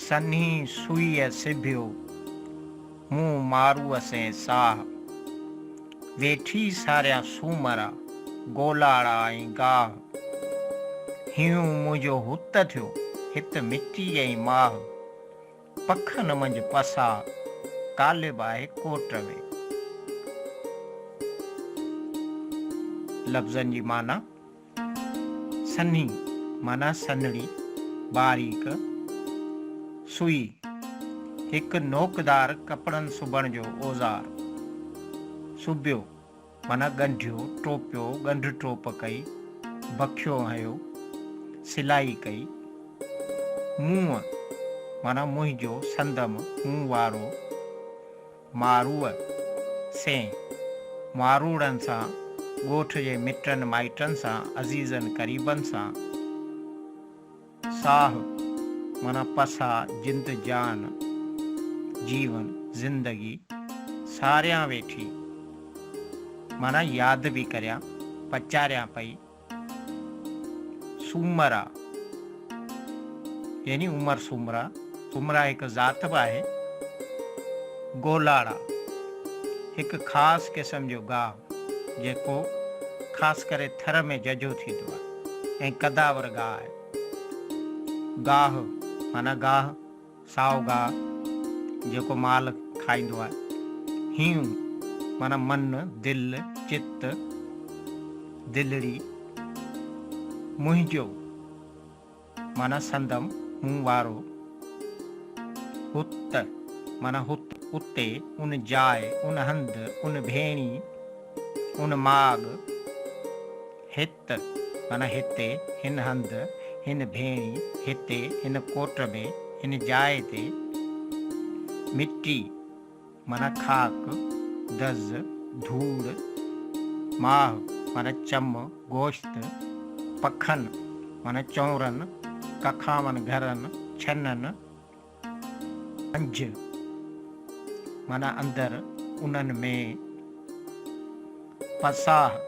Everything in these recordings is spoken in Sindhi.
سنهي سوئيء سبيو، مون ماروء سين ساهه. ويٺي ساريان سومرا، گولاڙا ۽ گاهه. هيون منهنجو هت ٿيو، هت مٽي ۽ ماهه. پکن منجهه پساهه، قالب آهي ڪوٽ ۾. لفظن جي معنيٰ. سنهي معنيٰ سنهڙي، باريڪ، سوئي، هڪ نوڪدار ڪپڙن سبڻ جو اوزار. سبيو معنيٰ ڳنڍيو، ٽوپيو، ڳنڍ ٽوپ ڪئي، بکيو هنيو، سلائي ڪئي. منهن معنيٰ منهنجو، سندم، مون وارو. ماروء سين ماروڙن سان، ڳوٺ جي مٽن مائٽن سان، عزيزن قريبن سان، ساهه معنيٰ پساهه، جند جان، جيون، زندگي، ساريان ويٺي معنيٰ ياد به ڪريان، پچاريان پئي. سومرا يعني عمر سومرا، سومرا هڪ ذات به آهي. گولاڙا، هڪ خاص قسم جو گاهه جيڪو خاص ڪري ٿر ۾ ججهو ٿيندو آهي ۽ قداور گاهه آهي. گاهه معنيٰ گاهه. سائو گاهه جيڪو مال کائيندو آهي. هيون معنيٰ من، دل، چت، دلڙي. منهنجو معنيٰ سندم، مون وارو. هت معنيٰ هت، اتي، ان جاء، ان هنڌ، ان ڀيڻي، ان ماڳ. هت ته معنيٰ هتي، هن هنڌ، هن ڀيڻي، هتي، هن ڪوٽ ۾، هن جاء تي، مٽي، معنيٰ خاڪ، دز، ڌوڙ، ماهه، معنيٰ چم، گوشت، پکن، معنيٰ چونرن، ڪکاون گهرن، ڇنن، پنج، معنيٰ اندر، انهن ۾، پساهه،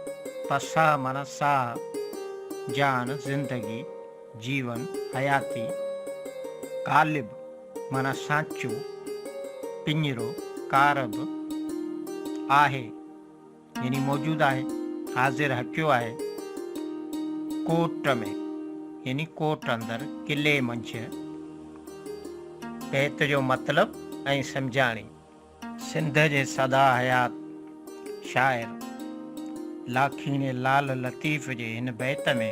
پساهه معنيٰ ساهه، جان، زندگي، جيون، حياتي، قالب، معنيٰ سانچو، پڃرو، ڪارب، آهي، يعني موجود آهي، حاضر هڪيو آهي. ڪوٽ ۾، يعني ڪوٽ اندر، قلعي منجهه. بيت جو مطلب ۽ سمجهاڻي. سنڌ جي سدا حيات شاعر لاکيڻي لعل لطيف جي هن بيت ۾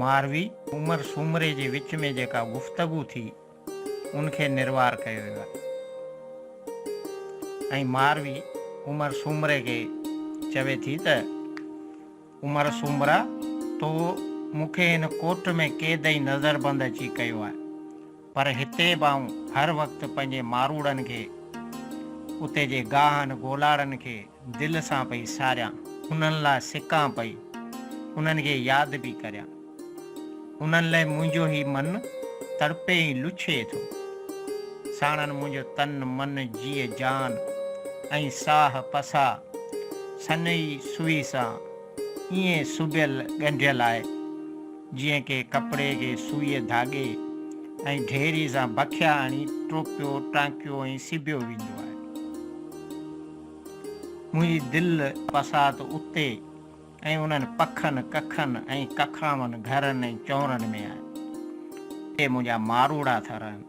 ماروي عمر سومري جي وچ ۾ جيڪا گفتگو ٿي، ان کي نروار ڪيو ويو آهي ۽ ماروي عمر سومري کي چوي ٿي ته، عمر سومرا تو مون کي هن ڪوٽ ۾ قيد ۽ نظربند اچي ڪيو آهي، پر هتي به آئون هر وقت پنهنجي ماروڙن کي، اتي جي گاهن گولاڙن کي، دل سان پئي ساريان، انهن لاء سڪان پئي، انهن کي ياد پئي ڪريان. انهن لئه منهنجو هي من، تڙپي ۽ لڇي ٿو. ساڻن منهنجو تن، من، جيء جان ۽ ساهه پساء، سنئي سوئي سان ائين سبيل ڳنڍيل آهي، جيئن ڪنهن ڪپڙي کي سوئيء ڌاڳي ۽ ڍيري سان بکيا هڻي ٽوپيو، ٽانڪيو ۽ سبيو ويندو آهي. منهنجي دل بساط اتي ۽ انهن پکن، ڪکن ۽ ڪکاون گهرن ۽ چونرن ۾ آهي. اتي منهنجا ماروئڙا ٿا رهن.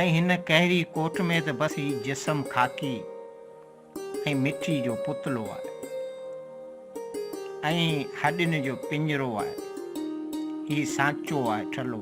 ۽ هن ڪهري ڪوٺ ۾ ته بس هي جسم خاڪي ۽ مٽي جو پتلو آهي ۽ هڏين جو پڃرو آهي. هي سانچو آهي ٺلهو.